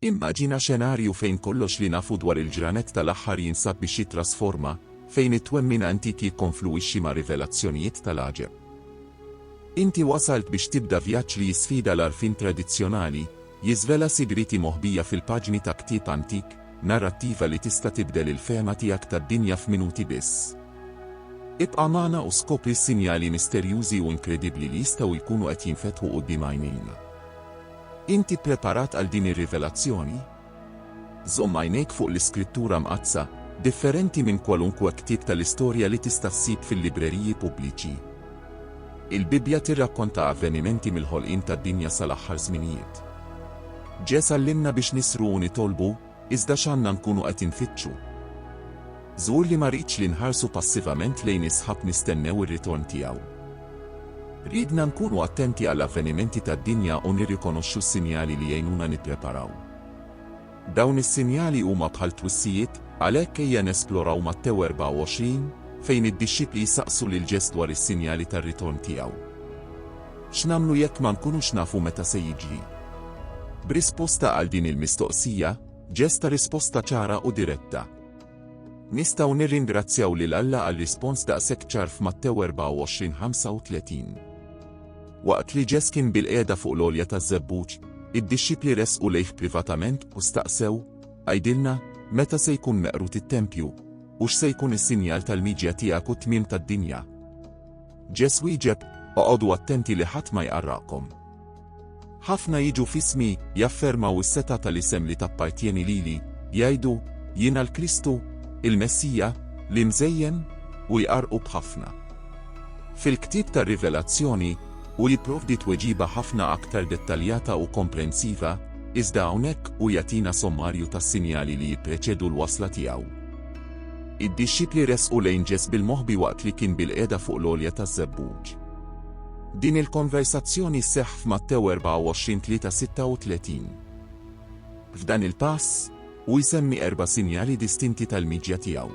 Immaġina xenarju fejn kollox li nafu dwar il-ġranet tal-aħħar jinsab biex jittrasforma, fejn it-twemmin antik jikkonfluwixxi ma' rivelazzjonijiet tal-għaġeb. Inti wasalt biex tibda vjaġġ li jisfida l-għarfien tradizzjonali, jiżvela sigrieti moħbija fil-paġni ta' ktieb antik, narrattiva li tista' tibdel il-fehma tiegħek tad-dinja f'minuti biss. Ibqa' magħna u skopri s-sinjali misterjużi u inkredibbli li jistgħu jkunu qed jinfetħu quddiem għajnejna. Inti ppreparat għal din ir-rivelazzjoni? Żomm għajnejk fuq l-Iskrittura Mqaddsa, differenti minn kwalunkwe ktieb tal-istorja li tista' ssib fil-libreriji pubbliċi. Il-Bibbja tirrakkonta avvenimenti mill-ħolqien tad-dinja sal-aħħar żminijiet. Ġesù għallimna biex nisru u nitolbu, Iżda x'għandna nkunu qed infittxu? Żgur li ma rridx li nħarsu passivament lejn is-sħab nistennew ir-ritorn tiegħu. Riedna nkunu attenti għall-avvenimenti tad-dinja u nirrikonoxxu s-sinjali li jgħinuna nippreparaw. Dawn is-sinjali huma bħal twissijiet, għalhekk ejja nesploraw Mattew 24, fejn id-dixxipli jsaqsu lil Ġeż dwar is-sinjali tar-ritorn tiegħu. X'nagħmlu jekk ma nkunux nafu meta se jiġri? B'risposta għal din il-mistoqsija, Ġest ta risposta ċara u diretta. Nistgħu nirringrazzjaw lil Alla għal rispons daqshekk ċar f'Mattew 24:35. Waqt li Ġest kien bilqiegħda fuq l-għolja taż-żebbuġ, id-dixxipli resqu lejh privatament u staqsew, Għidilna, meta se jkun meqrud it-tempju, u x'se jkun is-sinjal tal-miġja tiegħek u t-tmiem tad-dinja? Ġesù wieġeb, Oqogħdu attenti li ħadd ma jqarraqkom. Ħafna jiġu f'ismi, jaffermaw is-setgħa tal-isem li tappartjeni lili, jgħidu, Jiena l-Kristu, il-Messija, l-Imżejjen, u jqarrqu b'ħafna. Fil-ktieb tar-Rivelazzjoni, hu jipprovdi tweġiba ħafna aktar dettaljata u komprensiva, iżda hawnhekk hu jagħtina sommarju tas-sinjali li jippreċedu l-wasla tiegħu. Id-dixxipli resqu lejn Ġeż bil-moħbi waqt li kien bilqiegħda fuq l-għolja taż-żebbuġ. Din il-konversazzjoni sseħħ f'Mattew 24 3:36. F'dan il-pass, hu jsemmi erba' sinjali distinti tal-miġja tiegħu.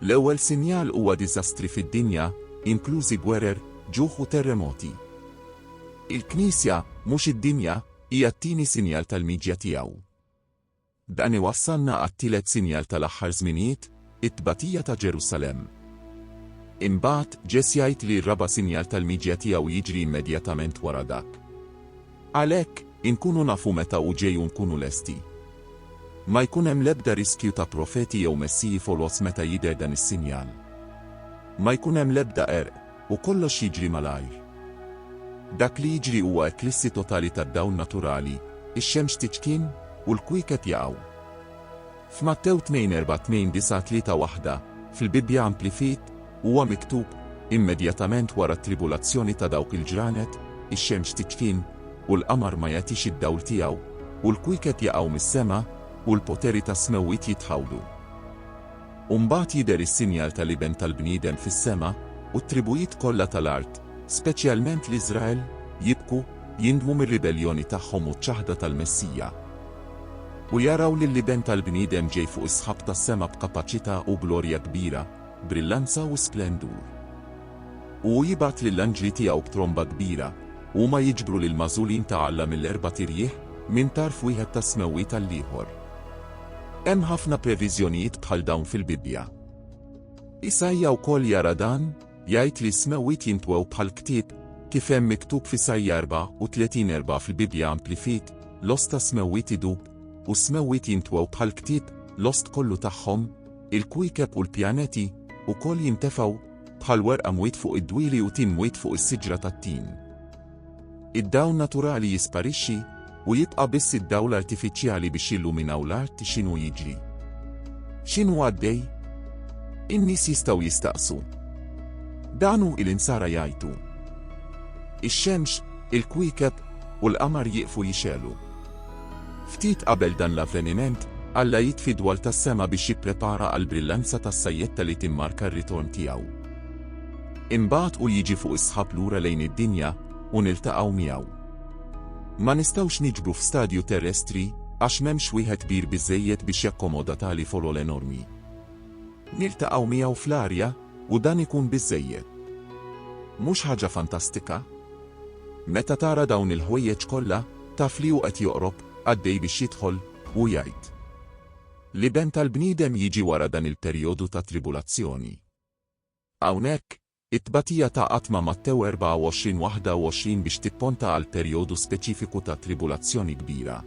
L-ewwel sinjal huwa diżastri fid-dinja, inklużi gwerer, ġuħ u terremoti. Il-Knisja, mhux id-dinja, hija t-tieni sinjal tal-miġja tiegħu. Dan iwassalna għat-tielet sinjal tal-aħħar żminijiet, it-tbatija ta' Ġerusalemm. Imbagħad, Ġess jgħid li r-raba' sinjal tal-miġja tiegħu jiġri immedjatament wara dak. Għalhekk, inkunu nafu meta hu ġej u nkunu lesti. Ma jkun hemm l-ebda riskju ta' profeti jew messiji foloz meta jidher dan is-sinjal. Ma jkun hemm l-ebda qerq. U kollox jiġri malajr. Dak li jiġri huwa eklissi totali tad-dawl naturali, ix-xemx tiċkien, u l-kwiekeb jaqgħu. F'Mattew tnejn erbgħa tnejn disgħa tlieta waħda, fil-Bibbja Amplified, huwa miktub, Immedjatament wara t-tribulazzjoni ta' dawk il-ġranet, ix-xemx tiċkien, u l-qamar ma jagħtix id-dawl tiegħu, u l-kwiekeb jaqgħu mis-sema, u l-poteri tas-smewwiet jitħawdu. U mbagħad jidher is-sinjal tal-Iben tal-bniedem fis-sema, u t-tribujiet kollha tal-art, speċjalment l-Iżrael, jibku, jindmu mir-ribelljoni tagħhom u ċ-ċaħda tal-Messija. U jaraw lill-Iben tal-bniedem ġej fuq is-sħab tas-sema b'kapaċità u glorja kbira, brillanza u splendur. U hu jibgħat lill-anġli tiegħu b'tromba kbira, u huma jiġbru lill-magħżulin ta' Alla mill-erbat irjieħ, minn tarf wieħed tas-smewwiet għall-ieħor. Hemm ħafna previżjonijiet bħal dawn fil-Bibbja. Isaija wkoll jara dan, jgħid li s-smewwiet jintwew bħal ktieb, kif hemm miktub f'Isaija 34:4 fil-Bibbja Amplified, l-ost tas-smewwiet idub, u s-smewwiet jintwew bħal ktieb, l-ost kollu tagħhom, il-kwiekeb u l-pjaneti, ukoll jintefgħu, bħal werqa mwiet fuq id-dwieli u tin mwiet fuq is-siġra tat-tin. Id-dawl naturali jisparixxi u jibqa' biss id-dawl artifiċjali biex jilluminaw l-art x'inhu jiġri? X'inhu għaddej? In-nies jistgħu jistaqsu. Dan hu il-insara jgħajtu. Ix-xemx, il-kwiekeb u l-qamar jieqfu jixegħlu. Ftit qabel dan l-avveniment, Alla jitfi dwal tas-sema biex jipprepara għall-brillanza tas-sajjetta li timmarka r-ritorn tiegħu. Imbagħad hu jiġi fuq is-sħab lura lejn id-dinja u niltaqgħu miegħu. Ma nistgħux niġbru f'stadju terrestri għax m'hemmx wieħed kbir biżżejjed biex jakkomoda tali folol enormi. Niltaqgħu miegħu fl-arja u dan ikun biżżejjed. Mhux ħaġa fantastika? Meta tara dawn il-ħwejjeġ kollha, taf li hu qed joqrob, għaddej biex jidħol, u jgħid. L-Iben tal-bniedem jiġi wara dan il-perjodu ta' tribulazzjoni. Hawnhekk, it-tbatija ta' qatt ma' Mattew 24, 21 biex tipponta għal perjodu speċifiku ta' tribulazzjoni kbira.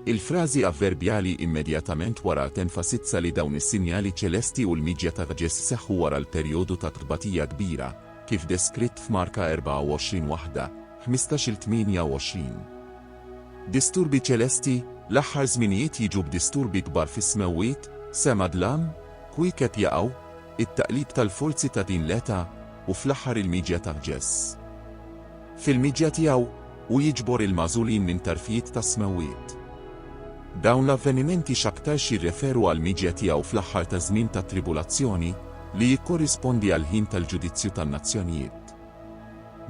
Il-frażi avverbjali immedjatament wara tenfasizza li dawn is-sinjali ċelesti u l-miġja ta' Ġesu' seħħu wara l-perjodu ta' tbatija kbira, kif deskritt f'Marka 24, 1, 15-il 28. Disturbi ċelesti, L-aħħar żminijiet jiġu b'disturbi kbar fis-smewwiet, sema dlam, Kwiekeb jaqgħu, it-taqlib tal-forzi ta' din l-età u fl-aħħar il-miġja ta' Ġess. Fil-miġja tiegħu, hu jiġbor il-magħżulin minn tarfijiet tas-smewwiet. Dawn l-avvenimenti x'aktarx jirreferu għall-miġja tiegħu fl-aħħar taż-żmien tat-tribulazzjoni, li jikkorrispondi għall-ħin tal-ġudizzju tan-nazzjonijiet.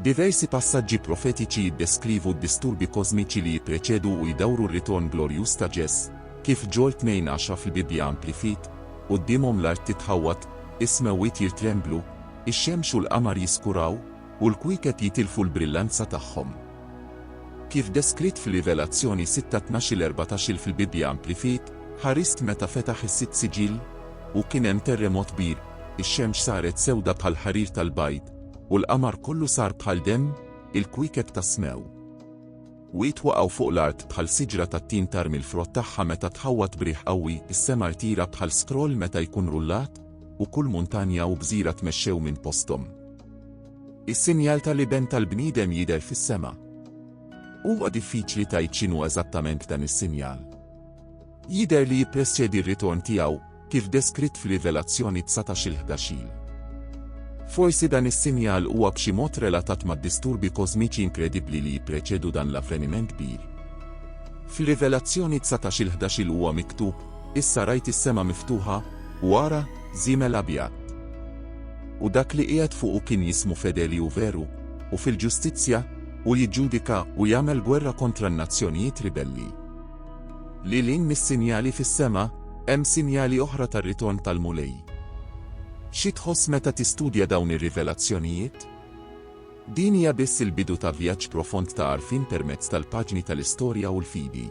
Diversi passaġġi profetiċi jiddeskrivu d-disturbi kożmiċi li jippreċedu u jdawru r-ritorn glorjuż ta' Ġes. Kif Ġol 2 għaxra fil-Bibbja Amplified, Quddiemhom l-art titħawwad, is-smewwiet jirtremblu, ix-xemx u l-qamar jiskuraw, u l-kwiekeb jitilfu l-brillanza tagħhom. Kif deskritt fir-Rivelazzjoni sitta tnax-il erbatax-il fil-Bibbja Amplified, Ħarist meta fetaħ is-sitt siġill, u kien hemm terremot kbir, Ix-xemx saret sewda bħall-ħarir tal-bajd, u l-qamar kollu sar bħal demm, il-kwiekeb tas-smew wiet waqgħu fuq l-art bħal siġra tat-tin tarmi l-frott tagħha meta tħawwad b'riħ qawwi, is-sema rtira bħal scroll meta jkun rullat, u kull muntanja u gżira tmexxew minn posthom. Is-sinjal tal-iben tal-bniedem jidher fis-sema. Huwa diffiċli tgħid x'inhu eżattament dan is-sinjal. Jidher li jippreċedi r-ritorn tiegħu, kif deskritt f'Rivelazzjoni dsatax il-ħdax il. Forsi dan is-sinjal huwa b'xi mod relatat mad-disturbi kożmiċi inkredibbli li jippreċedu dan l-avveniment kbir. F'Rivelazzjoni dsatax il-ħdax il huwa miktub, Issa rajt is-sema miftuħa, u ara, żiemel abjad. U dak li qiegħed fuqu kien jismu Fedeli u Veru, u fil-ġustizzja, u jiġġudika u jagħmel gwerra kontra n-nazzjonijiet ribelli. Lil hinn mis-sinjali fis-sema, hemm sinjali oħra tar-ritorn tal-Mulej. Xi tħoss meta tistudja dawn ir-rivelazzjonijiet? Din hija biss il-bidu ta' vjaġġ profond ta' għarfien permezz tal-paġni tal-istorja u l-fidi.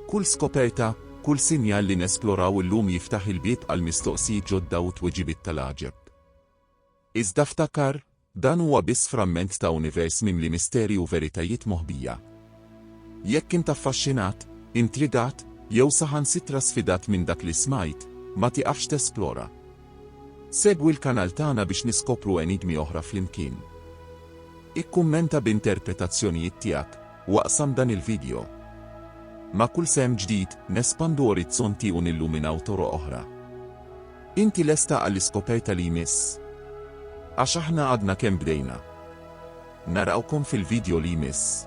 Kull skoperta, kull sinjal li nesploraw illum jiftaħ il-bieb għal mistoqsijiet ġodda u tweġibiet tal-għaġeb. Iżda ftakar, Dan huwa biss framment ta' univers mimli misteri u veritajiet moħbija. Jekk int affaxxinat, intrigat, jew saħansitra sfidat minn dak li smajt, ma tieqafx tesplora. Segwi l-kanal tagħna biex niskopru enigmi oħra flimkien. Ikkummenta b'interpretazzjonijiet tiegħek u aqsam dan il-vidjo. Ma' kull sehem ġdid, nespandu orizzonti u nilluminaw toroq oħra. Inti lesta għall-iskoperta li jmiss? Għax aħna għadna kemm bdejna. Narawkom fil-vidjo li jmiss.